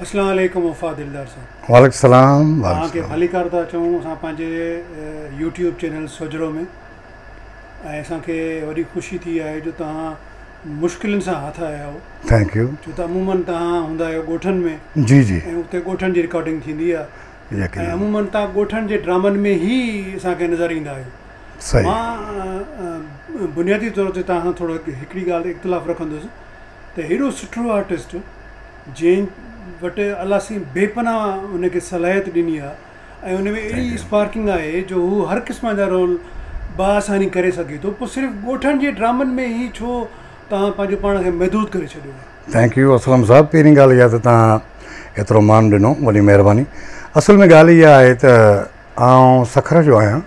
اسلام عليڪم وفا دلدار صاحب. وعليڪم السلام وعليڪم السلام. توهان کي ڀليڪار ٿا چئون اسان پنهنجي يوٽيوب چينل سوجهرو ۾ ۽ اسان کي وڏي خوشي ٿي آهي جو توهان مشڪلين سان هٿ آيا آهيو. Thank you. ڇو ته عمومن توهان هوندا آهيو ڳوٺن ۾ جي جي ۽ اتي ڳوٺن جي رڪارڊنگ ٿيندي آهي ۽ عمومن توهان ڳوٺن جي ڊرامن ۾ هي اسان کي نظر ايندا آهيو. صحيح. مان بنيادي طور تي توهان سان ٿورو هڪڙي ڳالهه اختلاف رکندس. ته هيڏو سٺڙو آرٽسٽ جنهن وٽ الله سائين بي پناهه ان کي صلاحيت ڏني آهي ۽ ان ۾ اهڙي اسپارڪنگ آهي جو هو هر قسم جا رول بآساني ڪري سگهي ٿو پوء صرف ڳوٺڻ جي ڊرامن ۾ ئي ڇو توهان پنهنجو پاڻ کي محدود ڪري ڇڏيو آهي. ٿينڪ يو اسلم صاحب پهرين ڳالهه اها ته توهان ايترو مان ڏنو وڏي مهرباني اصل ۾ ڳالهه اها آهي ته آئون سکر جو آهيان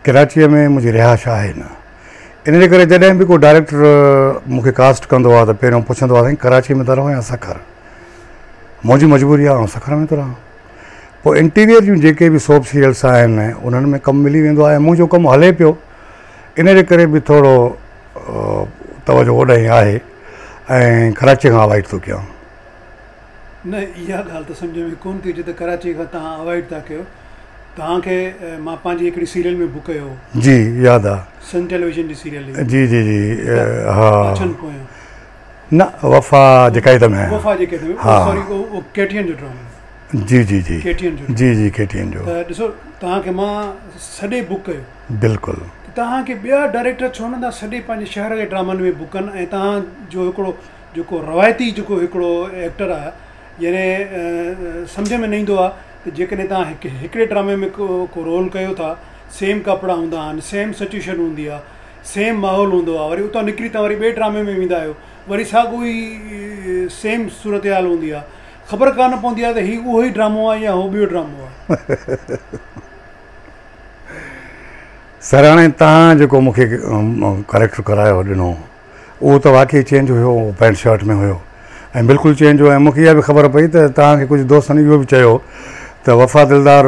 ڪراچيء ۾ منهنجي رهائش آهي نه. ان جي ڪري جڏهن به ڪو ڊائريڪٽر مون کي ڪاسٽ ڪندو آهي ته پهريون پڇندو آهي سائين ڪراچي ۾ ٿا رهو يا سکر؟ منهنجي مجبوري آهي آئون سکر ۾ ٿو رهان. پوء انٽيريئر جون جيڪي به سوپ سيريلس آهن انهن ۾ ڪم ملي ويندو آهي ۽ منهنجو ڪم هلي پيو ان جي ڪري به ٿورو توجهه هوڏانهن آهي ۽ ڪراچي کان اوائڊ ٿو ڪيان. نه اها ڳالهه ته سمجهه ۾ ڪونه ٿي اچي ته ڪراچي کان توهان اوائڊ ٿا ڪيو توهان کي مان پنهنجي هڪڙي سيريل ۾ بھ ڪيو هو جي ياد آ سن ٽيليويزن جي سيريل هئي جي جي جي ها پاڇن پويان نه وفا جي قيد ۾ وفا جي قيد ۾ ها سوري اهو ڪي ٽي اين جو ڊرامو جي جي جي ڪي ٽي اين جو جي جي ڪي ٽي اين جو ته ڏسو توهان کي مان سڏي بھ ڪيو بلڪل ته توهان کي ٻيا ڊائريڪٽر ڇو نھ ٿا سڏي پنهنجي شهر جي ڊرامن ۾ بھ ڪن ۽ توهان جو هڪڙو جيڪو روايتي جيڪو هڪڙو ايڪٽر آهي يعني سمجهه ۾ نه ايندو آهي ته جيڪڏهن تان هڪ هڪڙي ڊرامي ۾ ڪو ڪو رول ڪيو ٿا سيم ڪپڙا هوندا آهن سيم سچويشن هوندي آهي سيم ماحول هوندو آهي وري اتان نڪري تان وري ٻئي ڊرامي ۾ ويندا آهيو وري ساڳو ئي سيم صورتحال هوندي آهي خبر ڪانه پوندي آهي ته هي اهو ئي ڊرامو آهي يا هو ٻيو ڊرامو آهي سراڻي تان جيڪو مونکي ڪريڪٽر ڪرايو ڏنو اهو ته واقعي چينج هيو اهو پينٽ شرٽ ۾ هيو ۽ بلڪل چينج هيو ۽ مونکي اها به خبر پئي ته توهان کي ڪجهه دوستن اهو به چيو ته وفا دلدار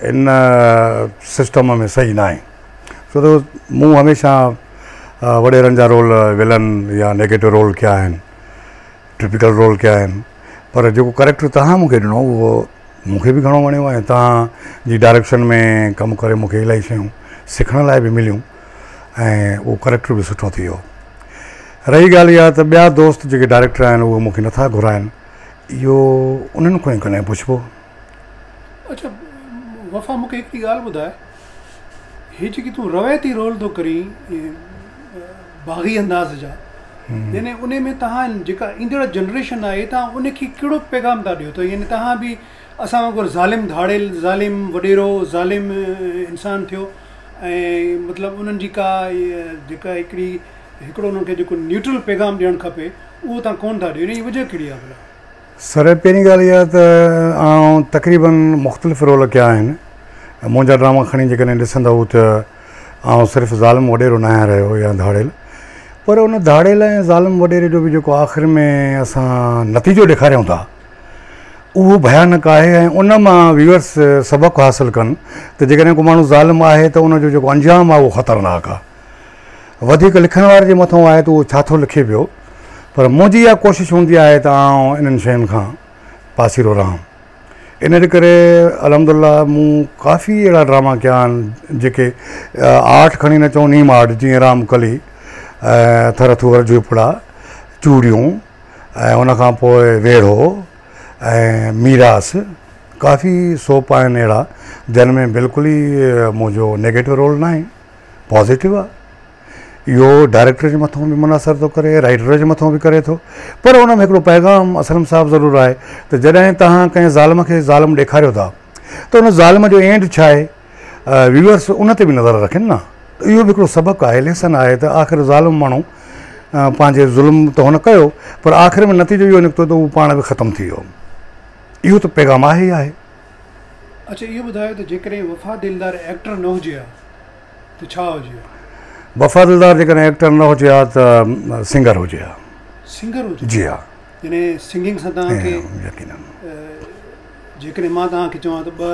ان سسٽم ۾ صحيح ناهي ڇو ته مون هميشه وڏيرن جا رول ولن يا نيگيٽو رول ڪيا آهن ٽپيڪل رول ڪيا آهن پر جيڪو ڪريڪٽر توهان مونکي ڏنو اهو مونکي به گهڻو وڻيو ۽ توهان جي ڊائريڪشن ۾ ڪم ڪري مونکي الاهي شيون سکڻ لاء به مليون ۽ اهو ڪريڪٽر به سٺو ٿي ويو. رهي ڳالهه اها ته ٻيا دوست جيڪي ڊائريڪٽر آهن اهي مون کي نٿا گهرائن اهو انهن کان ئي ڪڏهن پڇبو. اڇا وفا مون کي هڪڙي ڳالهه ٻڌاء هي جيڪي تون روايتي رول ٿو ڪرين باغي انداز جا يعني انهي ۾ تهان جيڪا ايندڙ جنريشن آهي تهان انهي کي ڪهڙو پيغام ٿا ڏيو ته يعني تهان به اسان وانگر ظالم ڌاڙيل ظالم وڏيرو ظالم انسان ٿيو ۽ مطلب انهن جي ڪا جيڪا هڪڙي هڪڙو انهن کي جيڪو نيوٽرل پيغام ڏيڻ کپي اهو تان ڪون ٿا ڏيو ان جي وجه ڪهڙي آهي ڀلا؟ سر پهرين ڳالهه اها ته آئون تقريباً مختلف رول ڪيا آهن منهنجا ڊراما کڻي جيڪڏهن ڏسندؤ ته آئون صرف ظالم وڏيرو نه آهيان رهيو يا ڌاڙيل پر ان ڌاڙيل ۽ ظالم وڏيري جو به جيڪو آخر ۾ اسان نتيجو ڏيکاريون ٿا اهو ڀيانڪ آهي ۽ ان مان ويورس سبق حاصل ڪن ته جيڪڏهن ڪو ماڻهو ظالم آهي ته ان جو جيڪو انجام آهي اهو خطرناڪ آهي. وڌيڪ لکڻ واري جي مٿان آهي ته اهو ڇا ٿو لکي پيو پر منهنجي اها ڪوشش هوندي آهي ته آئون انهن شين کان پاسيرو رهان. ان جي ڪري الحمدالله مون ڪافي اهڙا ڊراما ڪيا آهن جيڪي آرٽ کڻي نه چئون نيم آرٽ جيئن رام ڪلي، ٿر ٿوئر جهوپڙا، چوڙيون، ۽ ان کان پوء ويڙهو ۽ ميراث ڪافي سوپ آهن اهڙا جن ۾ بلڪل ئي منهنجو نيگيٽو رول نه آهي پازيٽو آهي اهو ڊائريڪٽر جي مٿان به منحصر ٿو ڪري رائٽر جي مٿان به ڪري ٿو پر ان ۾ هڪڙو پيغام اسلم صاحب ضرور آهي ته جڏهن توهان ڪنهن ظالم کي ظالم ڏيکاريو ٿا ته ان ظالم جو اينڊ ڇا آهي ويورس ان تي به نظر رکن نه ته اهو به هڪڙو سبق آهي ليسن آهي ته آخر ظالم ماڻهو پنهنجي ظلم ته هن ڪيو پر آخر ۾ نتيجو اهو نڪتو ته هو پاڻ به ختم ٿي ويو اهو ته پيغام آهي ئي آهي. اڇا اهو ٻڌايو ته جيڪڏهن وفا دلدار ايڪٽر نه هجي ها ته ڇا هجي ها؟ وفا دلدار جيڪڏهن ايڪٽر نه هجي ها ته سنگر هجي ها. سنگر هجي ها. جي ها. يعني سنگنگ سان توهان کي. يقينن. جيڪڏهن مان توهان کي چوان ته ٻه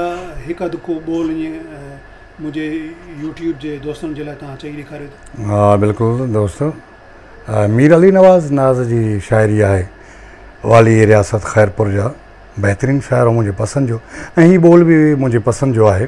هڪ اڌ ڪو ٻول ائين منهنجي يوٽيوب جي دوستن جي لاء توهان چئي ڏيکاريو ته. ها بلڪل دوستو مير علي نواز ناز جي شاعري آهي والي رياست خيرپور جا بهترين شاعر منهنجي پسند جو ۽ هي ٻول به منهنجي پسند جو آهي.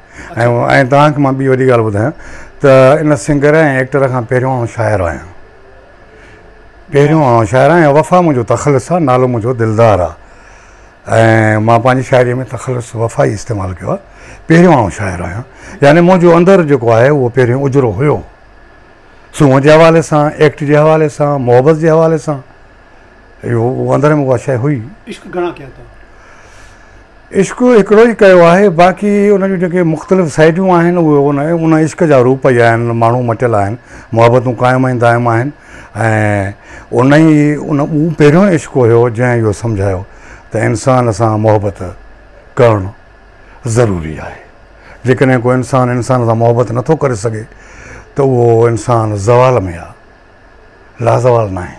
۽ توهان کي مان ٻي وڏي ڳالهه ٻڌايان ته ان سنگر ۽ ايڪٽر کان پهريون آئون شاعر آهيان پهريون آئون شاعر آهيان ۽ وفا منهنجو تخلص آهي نالو منهنجو دلدار آهي ۽ مان پنهنجي شاعري ۾ تخلص وفا ئي استعمال ڪيو آهي پهريون آئون شاعر آهيان يعني منهنجو اندر جيڪو آهي اهو پهريون اجرو هيو سونهن جي حوالي سان ايڪٽ جي حوالي سان محبت جي حوالي سان اهو اندر ۾ اها شيء هئي. عشق گهڻا ڪيا اٿئو؟ عشق هڪڙو ئي ڪيو آهي، باقي ان جون جيڪي مختلف سئيڊون آهن، اهي ان ان عشق جا روپ ئي آهن، ماڻهو مٽيل آهن، محبتون قائم ۽ دائم آهن ۽ ان ئي ان اهو پهريون عشق هيو، جنهن اهو سمجهايو ته انسان سان محبت ڪرڻ ضروري آهي، جيڪڏهن ڪو انسان انسان سان محبت نٿو ڪري سگهي ته اهو انسان زوال ۾ آهي. لازوال ناهي.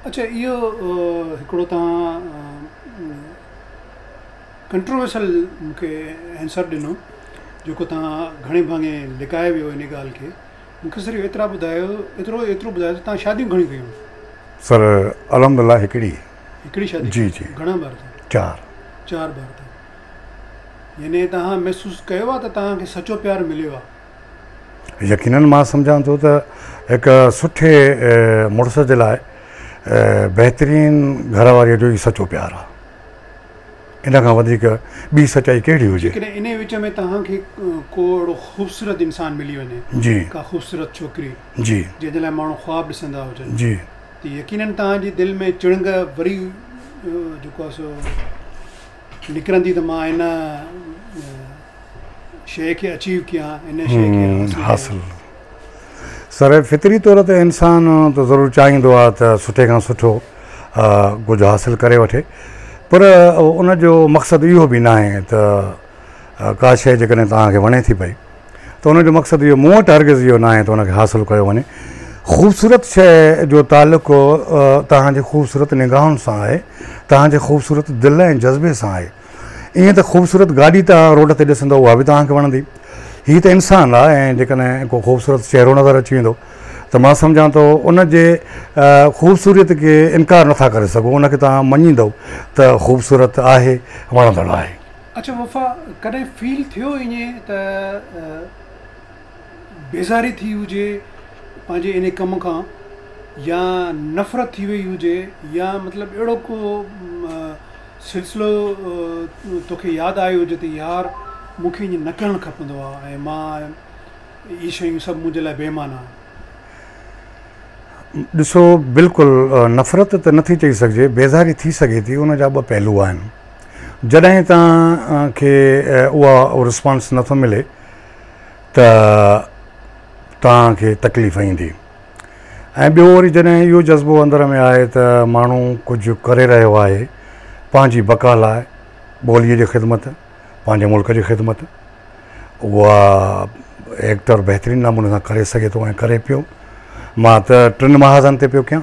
اڇا اهو هڪڙو توهان ڪنٽروورسل مون کي آنسر ڏنو جيڪو توهان گهڻي ڀاڱي لڪائي ويو ان ڳالهه کي مون کي صرف ايترا ٻڌايو ايترو ايترو ٻڌايو ته توهان شاديون گهڻيون ڪيون سر الحمد الله هڪڙي هڪڙي شادي جي جي گهڻا ٻار ٿا چار چار ٻار ٿا يعني توهان محسوس ڪيو آهي ته توهان کي سچو پيار مليو آهي يقينن مان سمجهان ٿو ته هڪ سٺي مڙس جي لاء بهترين گهر واريء جو ئي سچو پيار آهي. ان کان وڌيڪ ٻي سچائي ڪهڙي هجي؟ جيڪڏهن انهيء وچ ۾ توهان کي ڪو اهڙو خوبصورت انسان ملي وڃي، ڪا خوبصورت ڇوڪري، جنهن جي لاء ماڻهو خواب ڏسندا هجن، ته يقينن توهان جي دل ۾ چڻنگ وري جيڪو آهي سو نڪرندي ته مان ان شيء کي اچيو ڪيان، ان شيء کي حاصل ڪيان. سر فطري طور تي انسان ته ضرور چاهيندو آهي ته سٺي کان سٺو ڪجهه حاصل ڪري وٺي پر ان جو مقصد اهو به ناهي ته ڪا شيء جيڪڏهن توهان کي وڻي ٿي پئي ته ان جو مقصد اهو مون وٽ هرگز اهو ناهي ته ان کي حاصل ڪيو وڃي. خوبصورت شيء جو تعلق توهان جي خوبصورت نگاهن سان آهي، توهان جي خوبصورت دل ۽ جذبي سان آهي. ائين ته خوبصورت گاڏي توهان روڊ تي ڏسندؤ اها به توهان کي وڻندي. هي ته انسان آهي ۽ جيڪڏهن ڪو خوبصورت چهرو نظر اچي ويندو ته مان سمجهان ٿو ان جي خوبصوريت کي انڪار نٿا ڪري سگهو، ان کي توهان مڃيندؤ ته خوبصورت آهي، وڻندڙ آهي. اڇا وفا ڪڏهن فيل ٿيو ائين ته بيزاري ٿي هجي پنهنجي ان ڪم کان يا نفرت ٿي وئي هجي يا مطلب اهڙو ڪو سلسلو توکي ياد آيو هجي ته يار مون کي ائين نه ڪرڻ کپندو آ ۽ مان اهي شيون سڀ منهنجي لاء بي معنيٰ آهن. ڏسو بلڪل نفرت ته نٿي چئي سگهجي بيزاري ٿي سگهي ٿي ان جا ٻه پهلو آهن. جڏهن توهان کي اها رسپانس نٿو ملي ته توهان کي تڪليف ايندي ۽ ٻيو وري جڏهن اهو جذبو اندر ۾ آهي ته ماڻهو ڪجهه ڪري رهيو آهي پنهنجي بقا لاء ٻوليء جي خدمت پنهنجي ملڪ جي خدمت اها ايڪٽر بهترين نموني سان ڪري سگهي ٿو ۽ ڪري پيو مان ته ٽن محاذن تي پيو ڪيان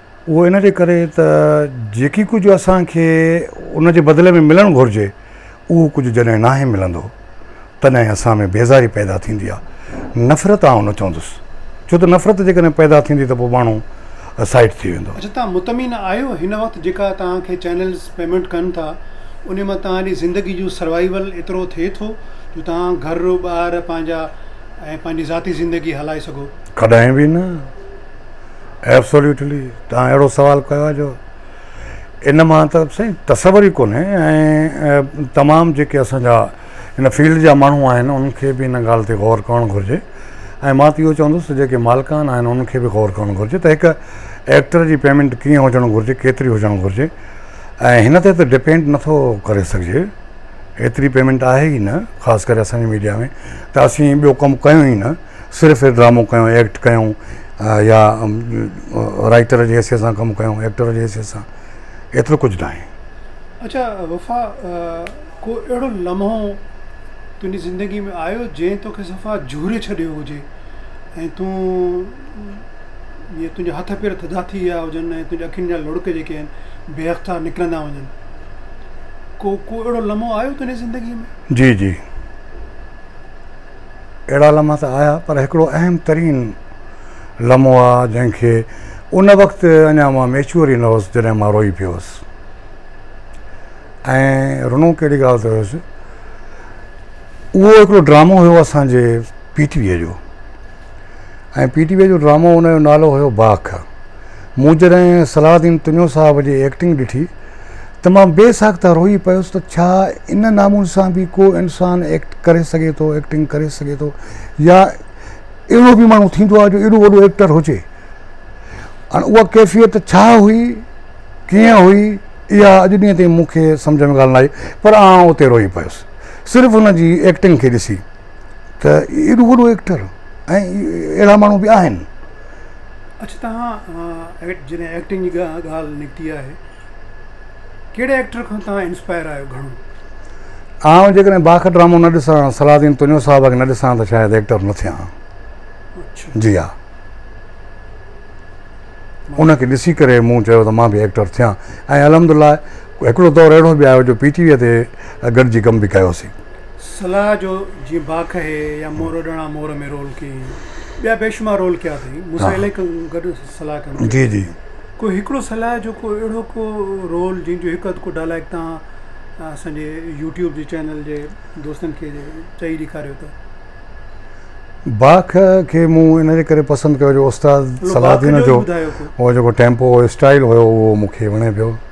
اهو ان جي ڪري ته جيڪي ڪجهه اسان کي ان جي بدلي ۾ ملڻ گهرجي اهو ڪجهه جڏهن ناهي ملندو تڏهن اسان ۾ بيزاري پيدا ٿيندي آهي نفرت آئون نه چوندس ڇو ته نفرت جيڪڏهن پيدا ٿيندي ته پوء ماڻهو سائيٽ ٿي ويندو. اچا توهان مطمئن آهيو هن وقت جيڪا توهان کي چينلز پيمينٽ ڪن ٿا انهي مان توهان جي زندگي جو سروائيول ايترو ٿئي ٿو جو توهان گهر ٻار پنهنجا ۽ پنهنجي ذاتي زندگي هلائي سگهو. ڪڏهن به نه. ائبسوليوٽلي تهان اهڙو سوال ڪيو آهي جو ان مان ته سائين تصور ئي ڪونهي ۽ تمام جيڪي اسان جا ان فيلڊ جا ماڻهو آهن انهن کي به ان ڳالهه تي غور ڪرڻ گهرجي ۽ مان ته اهو چوندس ته جيڪي مالڪان آهن انهن کي به غور ڪرڻ گهرجي ته هڪ ايڪٽر جي پيمنٽ ڪيئن هجڻ گهرجي ڪيتري هجڻ گهرجي ۽ هن تي ته ڊپينڊ نٿو ڪري سگهجي ايتري پيمنٽ آهي ئي نه خاص ڪري اسان جي ميڊيا ۾ ته اسين ٻيو ڪم ڪيون ئي نه صرف ڊرامو ڪيو ايڪٽ ڪيو يا رائٽر جي حيثيت سان ڪم ڪيو ايڪٽر جي حيثيت سان ايترو ڪجھ نه آھي. اچا وفا ڪو اھڙو لمحو تنھنجي زندگي ۾ آيو جنھن توکي صفا جھوري ڇڏيو ھجي ۽ تون جيئن تنھنجا ھٿ پير ٿڌا ٿي ويا ھجن ۽ تنھنجي اکين جا لڙڪ جيڪي آھن بي اختيار نڪرندا وڃن ڪو ڪو اھڙو لمحو آيو تنھنجي زندگي ۾؟ جي جي. اهڙا لمحا ته آيا پر هڪڙو اهم ترين لمحو آ جنهن کي ان وقت اڃا مان ميچوئر ئي نه هوس جڏهن مان روئي پيو هوس ۽ رنو ڪهڙي ڳالهه تي هوس اهو هڪڙو ڊرامو هيو اسان جي پي ٽي ويء جو ۽ پي ٽي ويء جو ڊرامو ان جو نالو هيو باک مون جڏهن صلاح الدين تنيو صاحب جي ايڪٽنگ ڏٺي تمام بي ساخته روئي پيس ته ڇا ان نامون سان به ڪو انسان ايڪٽ ڪري سگهي ٿو ايڪٽنگ ڪري سگهي ٿو يا اهڙو به ماڻهو ٿيندو آهي جو ايڏو وڏو ايڪٽر هجي هاڻي اها ڪيفيت ڇا هئي ڪيئن هئي اها اڄ ڏينهن تائين مون کي سمجهه ۾ ڳالهه نه آئي پر آئون اتي روئي پيس صرف ان جي ايڪٽنگ کي ڏسي ته ايڏو وڏو ايڪٽر ۽ اهڙا ماڻهو به آهن اچ تهان جڏهن ايڪٽنگ جي ڳالهه نڪتي آهي ڪهڙي ايڪٽر کان تهان انسپائر آهيو گهڻو؟ آئون جيڪڏهن باخ ڊرامو نه ڏسان صلاح الدين تنيو صاحب کي نه ڏسان ته شايد ايڪٽر نه ٿيان جي ها ان کي ڏسي ڪري مون چيو ته مان به ايڪٽر ٿيان ۽ الحمدلله هڪڙو دور اهڙو به آيو جو پي ٽي ويء تي گڏجي ڪم به ڪيوسين. صلاح جو جيئن باک هي يا مور ڏڻا مور ۾ رول ڪيئين ٻيا بيشمار رول ڪيا اٿئي مون سان الائي ڪن گڏ صلاح ڪن جي جي ڪو هڪڙو صلاح جو ڪو اهڙو ڪو رول جنهن جو هڪ اڌ ڪو ڊائلاگ تان اسان جي يوٽيوب جي چينل جي دوستن کي چئي ڏيکاريو ته. باک کي مون ان جي ڪري پسند ڪيو جو استاد صلاح الدين جو هو جيڪو ٽيمپو اسٽائيل هيو اهو مون کي وڻي پيو.